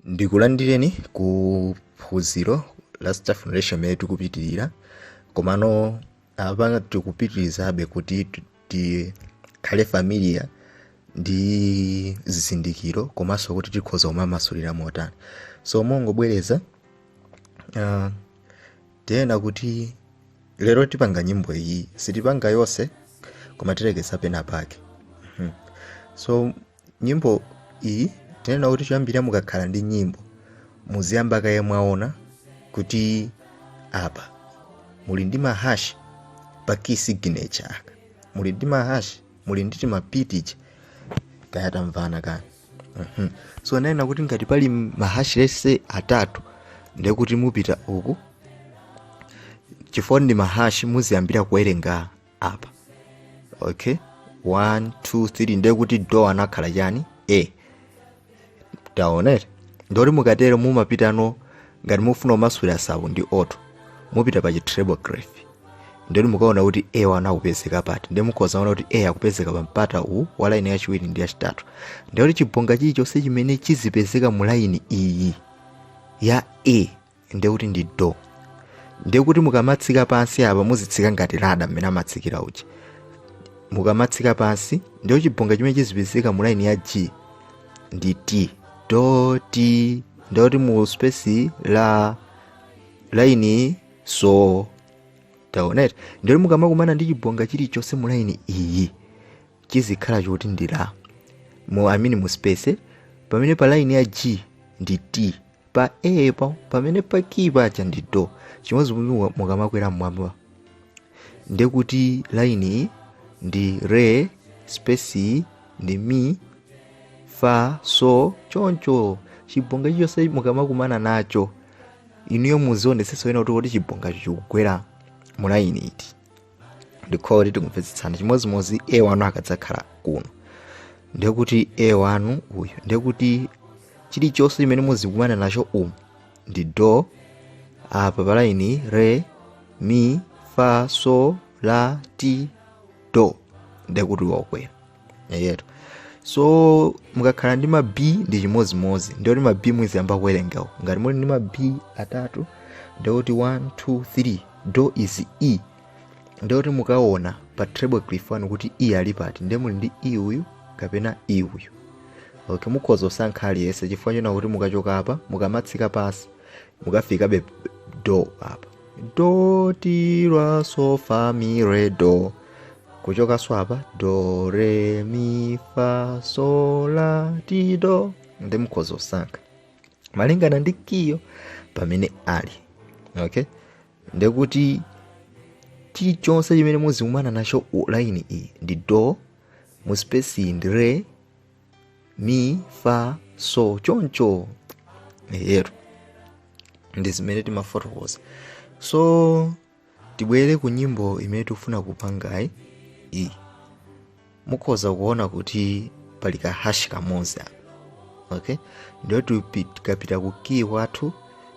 ndikulandireni ku phunziro la staff notation imene tikupitirira komano apa tikupitirizabe kuti ti- tikhale familiar ndi zizindikiro komanso kuti tikhoza kumamasulira motani so mongobwereza uh, tinena kuti lero tipanga nyimbo iyi sitipanga yonse koma tilekeza pena pake Mhm. so nyimbo iyi tinena kuti choyambirira mukakhala ndi nyimbo muziyamba kaye mwaona kuti apa muli ndi mahash pa key signature apa muli ndi mahash muli ndi timabii ti kaya tamvana kani Mhm. so ananena kuti ngati pali mahash let's say atatu ndekuti mupita uku chifukwa ndi mahash muziyambira kuwerenga apa okay 1 2 3 ndiye kuti do anakhala chani a taonani ndiye kuti mukatero mumapitanso ngati mufuna kumasulira sabu ndi oto mupita pa chitreble clef ndiye kuti mukaona kuti a wanu akupezeka pati ndiye mukhoza kuona kuti a akupezeka pa mpata uwu wa laini yachiwiri ndi yachitatu ndiye kuti chibonga chilichonse chimene chizipezeka mu laini iyi ya a ndiye kuti ndi do ndiye kuti mukamatsika pansi apa muzitsika ngati ladder mmene amatsikira uchi mukamatsika pansi ndiyo chibonga chimene chizipezeka mu laini ya g ndi t do t ndiye kuti mu space la laini so taonani ndiye kuti mukamakumana ndi chibonga chilichonse mu laini iyi chizikhala choti ndi la mu I mean mu space pamene pa laini ya g ndi t pa a pa pamene pa ki paja ndi do chimodzi modzi mukamakwera mmwamba ndekuti laini iyi ndi re space iyi ndi mi fa so choncho chibonga chilichonse mukamakumana nacho inuyo muzionetsetsa wena kuti kodi chibongacho chikugwera mu laini iti ndikhulupirira kuti tikumvetsetsana chimodzimodzi a wanu akadzakhala kuno ndiye kuti a wanu uyu ndiye kuti chilichonse chimene muzikumana nacho umu ndi do apa palaini re mi fa so la ti do ndiye kuti wakwera yetu so mukakhala ndi ma b ndi chimodzimodzi ndikuti ma b muziyamba kuwerengawo ngati muli ndi ma b atatu ndikuti 1 2 3 do is e ndikuti mukaona pa treble clef wanu kuti e ali pati ndiye muli ndi e uyu kapena e uyu okay mukhoza kusankha aliyense chifukwa choona kuti mukachoka apa mukamatsika pansi mukafikabe do apa do ti la so fa mi re do kuchokanso apa do re mi fa so la ti do ndiye mukhoza kusankha malingana ndi key yo pamene ali okay ndiye kuti chilichonse chimene muzikumana nacho mu laini iyi ndi do mu space iyi ndi re mi fa so choncho eti ndi zimene timafotokoza so tibwere ku nyimbo imene tikufuna kupangayi iyi mukhoza kuona kuti pali ka hash kamodzi apa okay ndiye tupi- tikapita ku key wathu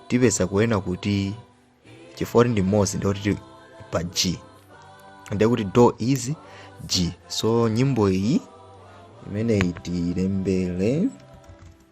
tipeza kunena kuti chifukwa ndi mmodzi ndiye tili pa g ndiye kuti do is g so nyimbo iyi imeneyi tilembere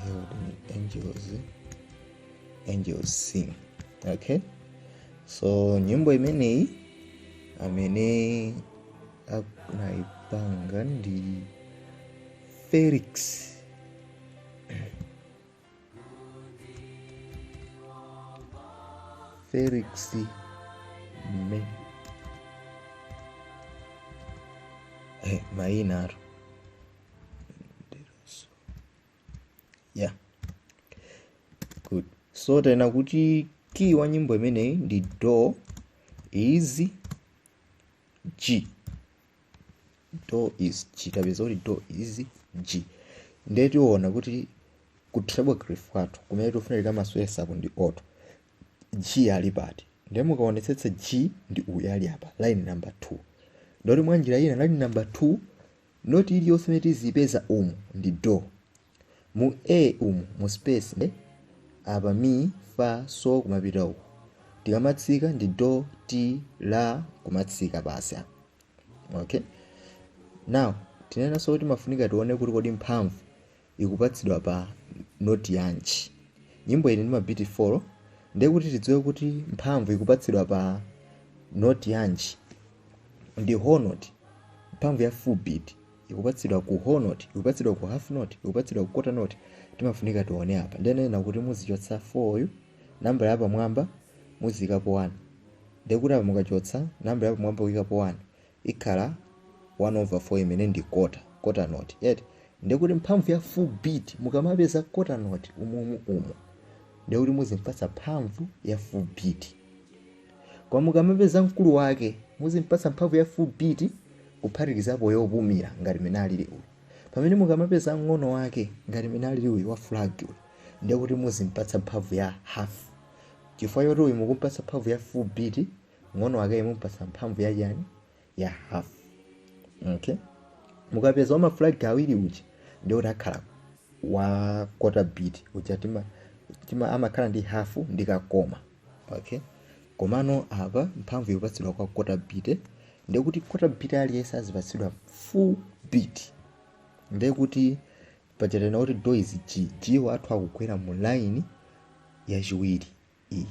herald angels angels sing okay so nyimbo imeneyi amene anaipanga ndi felix felix me eh, maina aro yeah good so tanena kuti key wa nyimbo imeneyi ndi do is g do is g tapeza kuti do is g ndiye tiona kuti ku treble clef kwathu kumene tifuna tikamayesapo ndi note g ali pati ndiye mukaonetsetsa g ndi uyu ali apa line number 2 ndiye kuti mwa njira ina line number 2 Noti iliyonse imene tiziipeza umu ndi do. Mu A umu mu space ndi apa mi, fa, so kumapita uku. Tikamatsika ndi do, ti, la kumatsika basi apa. Okay? Now tinenanso kuti timafunika tione kuti kodi mphamvu ikupatsidwa pa noti yanji? Nyimbo ili ndi mabiti 4 ndiye kuti tidziwe kuti mphamvu ikupatsidwa pa noti yanji ndi whole note. Mphamvu ya full beat ikupatsidwa ku whole note, ikupatsidwa ku half note, ikupatsidwa ku quarter note. Timafunika tione apa. Ndiye ananena kuti muzichotsa 4 yu, nambala yapamwamba muziikapo 1. Ndiye kuti apa mukachotsa nambala yapamwamba kuikapo 1, ikhala 1 over 4 imene ndi quarter, quarter note eti, ndiye kuti mphamvu ya full beat mukamapeza quarter note umumu umu ndiye kuti muzimpatsa mphamvu ya full beat koma mukamapeza mkulu wake muzimpatsa mphamvu ya full beat kuphatikizapo yopumira ngati mene alili uyu pamene mukamapeza mng'ono wake ngati mene alili uyu wa flag uyu ndiye kuti muzimpatsa mphamvu ya half chifukwa choti uyu mukumpatsa mphamvu ya full beat mng'ono wakeyo mumpatsa mphamvu ya chani ya half okay mukapeza wama flag awiri uja ndiye kuti akhala wa quarter beat uja tima, tima amakhala ndi half ndi kakoma okay komano apa mphamvu ikupatsidwa kwa quarter beat ndiye kuti quarter beat aliyense azipatsidwa full beat ndiye kuti paja tanena kuti do is g g wathu akugwera mu line yachiwiri ii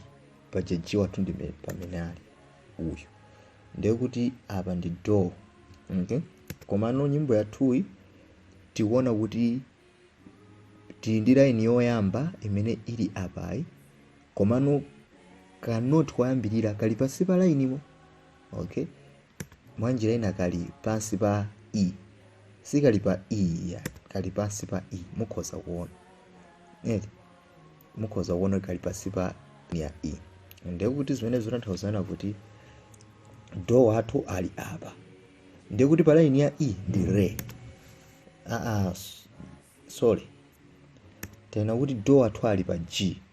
paja g wathu ndi me- pamene ali uyu ndiye kuti apa ndi do okay? komano nyimbo yathuyi tikuona kuti tili ndi laini yoyamba imene ili apayi komano kanoti kayambirira kali pansi pa lainimo okay mwanjira ina kali pansi pa e sikali pa e ya kali pansi pa e mukhoza kuona eti mukhoza kuona kuti kali pansi pa ya e ndiye kuti zimene zikutanthauza kuti do wathu ali apa ndiye kuti pa line ya e ndi re aa s- sorry tanena kuti do wathu ali pa g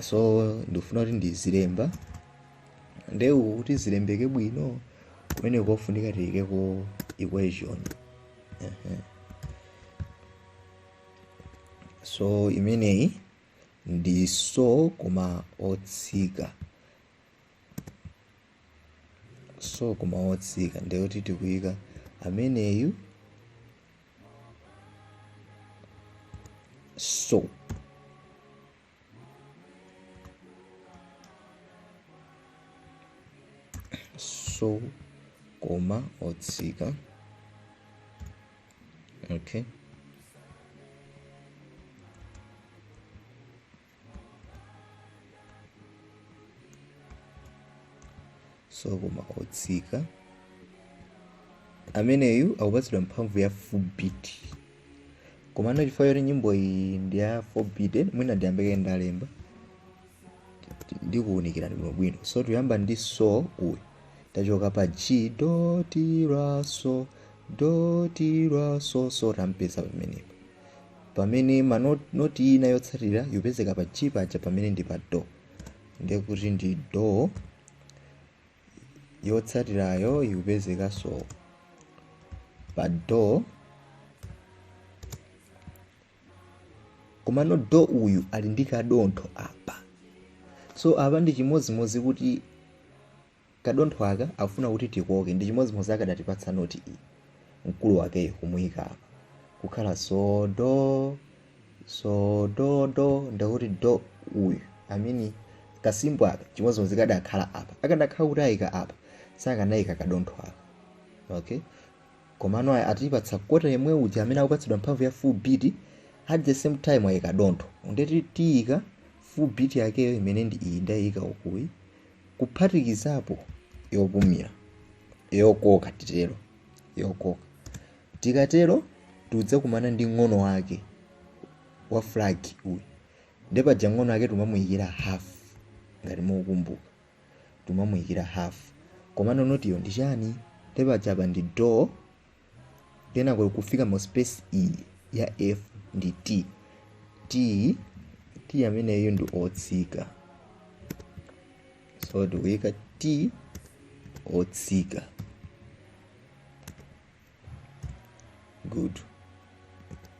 so ndikufuna kuti ndizilemba nde uku kuti zilembeke bwino kumene kofunika tiyikeko equation Ehe. so imeneyi ndi so koma otsika so koma otsika ndekuti tikuyika ameneyu So. So, koma otsika. Okay. so koma otsika ameneyu akupatsidwa mphamvu ya full beat komano chifukwa choti nyimbo iyi ndi ya full beat mwina ndiyambe kaye ndalemba ndikuwunikirani bwinobwino so tikuyamba ndi so uyu tachoka pa g do ti la so do ti la so so tampeza pamenepo pamene manoti, noti ina yotsatira ikupezeka pa g paja pamenepa ndi pa do ndiye kuti ndi do yotsatirayo ikupezekanso pa do komano do uyu ali ndi kadontho apa so apa ndi chimodzimodzi kuti Kadontho aka akufuna kuti tikoke ndi chimodzimodzi akadatipatsa noti iyi mkulu wakeyo kumuyika apa kukhala so do so do do ndekuti do uyu I mean ka symbol aka chimodzimodzi kadakhala apa akanakhala kuti ayika apa sakanayika kadontho aka okay komano aya atipatsa kota yemwe uja amene akupatsidwa mphamvu ya full beat at the same time ayika dontho ndekuti tiyika full beat yakeyo imene ndi iyi ndayika ukuyi kuphatikizapo yopumira, yokoka, titero, yokoka. Tikatero tikudzakumana ndi ng'ono wake wa flag uyu. Nde paja ng'ono wake tumamuyikira half ngati mukumbuka. Tumamuyikira half. Komano notiyo ndi chiyani? Nde paja apa ndi do kenako kufika mu space iyi ya f ndi t t t ameneyo ndi otsika so tikuyika t otsika good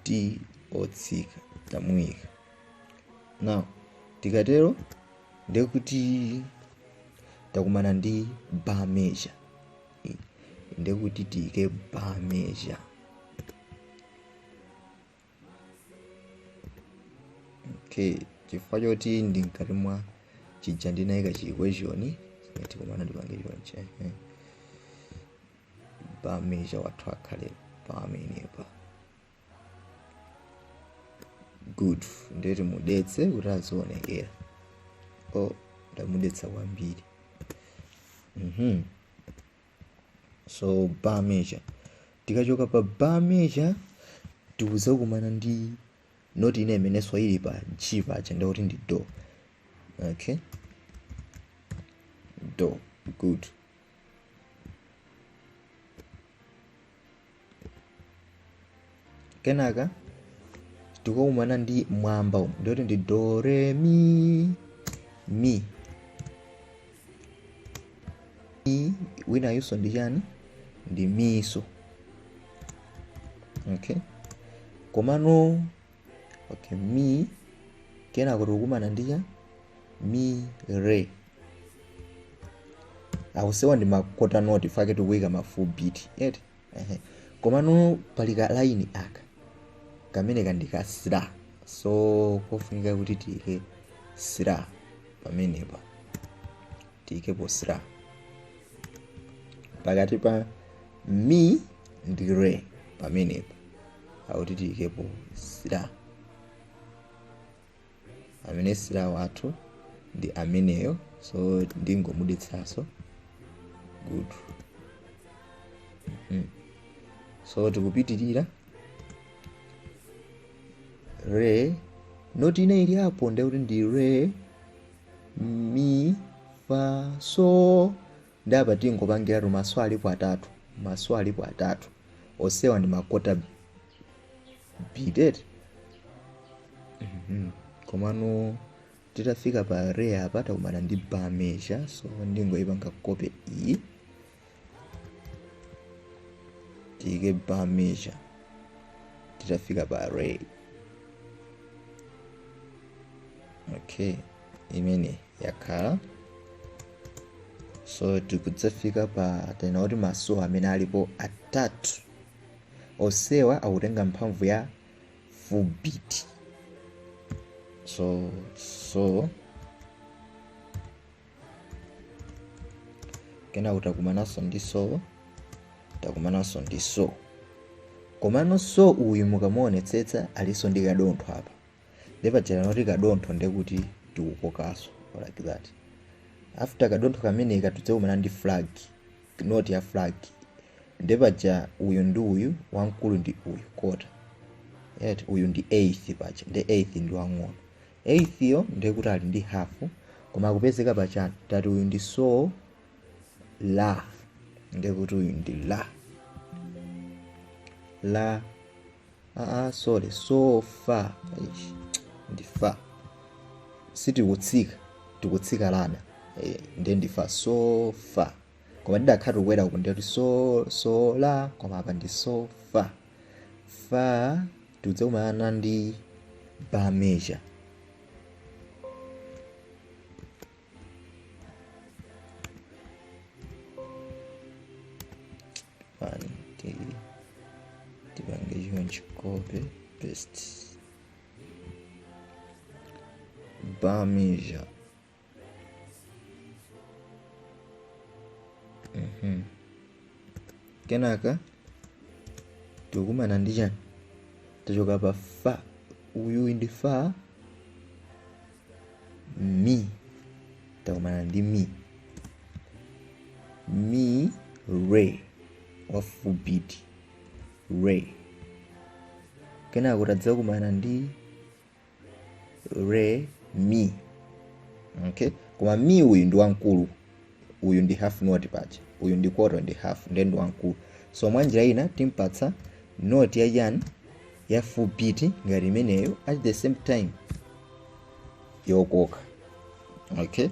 t otsika tamuyika now tikatero ndekuti takumana ndi bar measure ndekuti tiike bar measure okay chifukwa choti ndi mkati mwa chija ndinaika chi question tikumana ndipange chonche eh. bar measure wathu akhale pamenepa good ndiye timudetse kuti azionekera o ndamudetsa kwambiri mhm so bar measure tikachoka pa bar measure tikuzakumana ndi noti ina imeneyo ili pa g paja ndikuti ndi do okay do good kenaka tikukumana ndi mmwamba umu ndekuti ndi do re mi mi mi winayuso ndi chani ndi miso okay komano okay mi kenako tikukumana ndi cha mi re akuseweta ndi makota noti chifukwa chake tikuyika ma 4 beat yet ehe komano pali ka line aka kamene ka ndi ka slur so kofunika kuti tiyike slur pamenepa tiyikepo slur pakati pa mi ndi re pamenepa akuti tiyikepo slur amene slur wathu ndi ameneyo so ndingomudetsaso good mm. so tikupitirira re noti ina ili apo ndekuti ndi re mi fa so Nde apa tingopangiratu maso alipo atatu maso alipo atatu osewa ndi ma quarter beat komano titafika pa re apa takumana ndi bar measure so ndingoyipanga copy iyi tiyike bar measure titafika pa re okay imene yakhala so tikudzafika pa tenor kuti maso amene alipo atatu osewa akutenga mphamvu ya full beat so so kenako takumananso ndi so takumananso ndi so komano so uyu mukamuonetsetsa alinso ndi kadontho apa nde paja anati kadontho nde kuti tikukokanso like that after kadontho kameneka tidzakumana ndi flag note ya flag nde paja uyu ndi uyu wamkulu ndi uyu quarter yet uyu ndi eighth paja nde eighth ndi wang'ono eighth yo nde kuti ali ndi half koma akupezeka pa chani tati uyu ndi so la nde kuti uyu ndi la la aa sorry so fa Eish, ndi fa sitikutsika tikutsika lada eh, nde ndi fa so fa koma tidakhala tikukwera uku nde kuti so so la koma apa ndi so fa fa tidzakumana ndi bar measure pani tili tipange chonchi copy paste bar measure Mhm. kenaka tikumana ndi chani tachoka pa fa uyu ndi fa mi takumana ndi mi mi re wa full beat re kenako tadzakumana ndi re mi okay koma mi uyu ndi wamkulu uyu ndi half note paja uyu ndi quarter ndi half ndiye ndi wamkulu so mwa njira ina timpatsa note ya chani ya full beat ngati imeneyo at the same time yokoka okay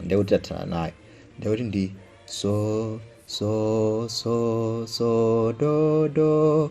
ndiye kuti tathana nayo ndiye kuti ndi so so so so do do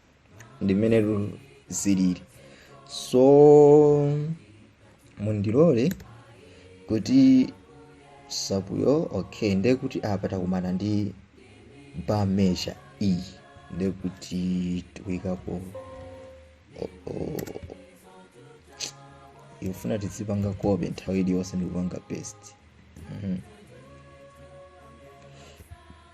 ndi mmene tu- zilili so mundilole kuti sapuyo okay ndiye kuti apa takumana ndi bar measure iyi ndiye kuti tikuyikapo o- o- ikufuna tizipanga kope nthawi iliyonse ndikupanga paste Mhm.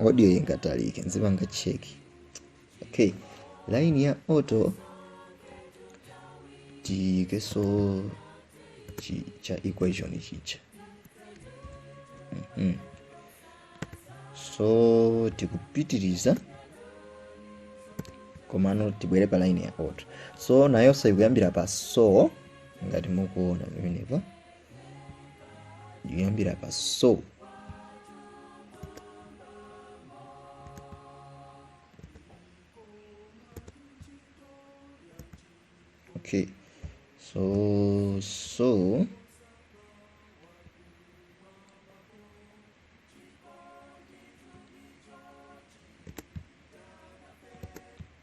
audio ingatalike nzipanga check okay line ya auto tiyikenso chi cha equation chija mm so tikupitiriza komano tibwere pa line ya auto so nayonso ikuyambira pa so ngati mukuona pamenepa yoyambira pa so okay so so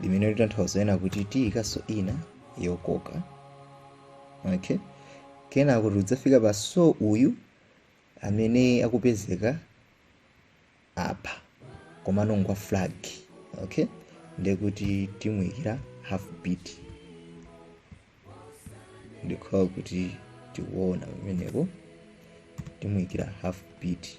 limene likutanthauza kunena kuti tiyikanso ina yokoka okay kenako tidzafika pa so uyu amene akupezeka apa komano ngwa flag okay ndekuti timuyikira half beat ndikhulupira kuti tikuwona pamenepo timuyikira half beat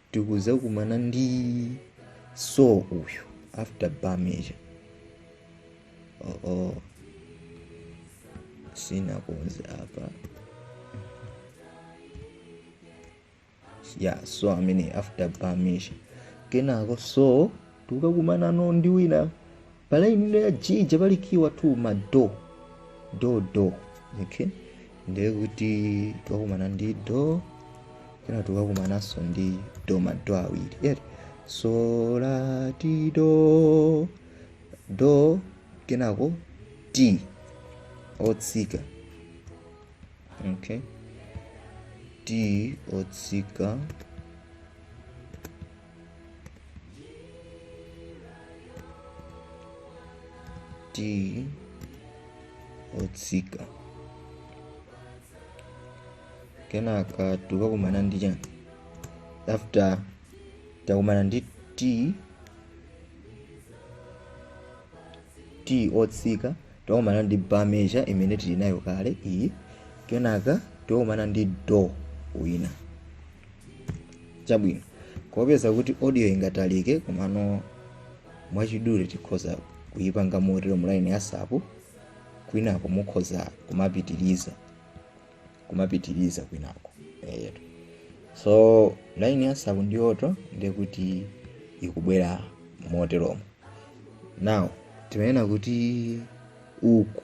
tikuzakumana ndi so uyu after bamija oo sinakonze apa ya so amene after bamija kenako so tikukakumanano ndi wina pa line ya chija pali kiwa tu ma do do do okay ndiye kuti tikakumana ndi do kenako tikukakumananso ndi do ma do awiri yeah. so la ti do do kenako ti otsika okay ti otsika ti otsika kenaka tikakumana ndi chani after takumana ndi ti ti otsika tikakumana ndi bar measure imene tili nayo kale iyi kenaka tikakumana ndi do wina chabwino kuopeza kuti audio ingatalike komano mwachidule tikhoza kuyipanga moteromo laini ya sapu kwinako mukhoza kumapitiriza kumapitiriza kwinako eyetu so laini ya sapu ndi yoto ndekuti ikubwera moteromo now timanena kuti uku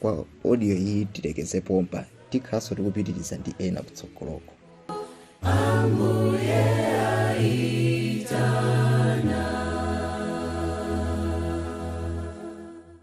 kwa audio iyi tilekeze pompa tikhalanso tikupitiriza ndi ena kutsogoloko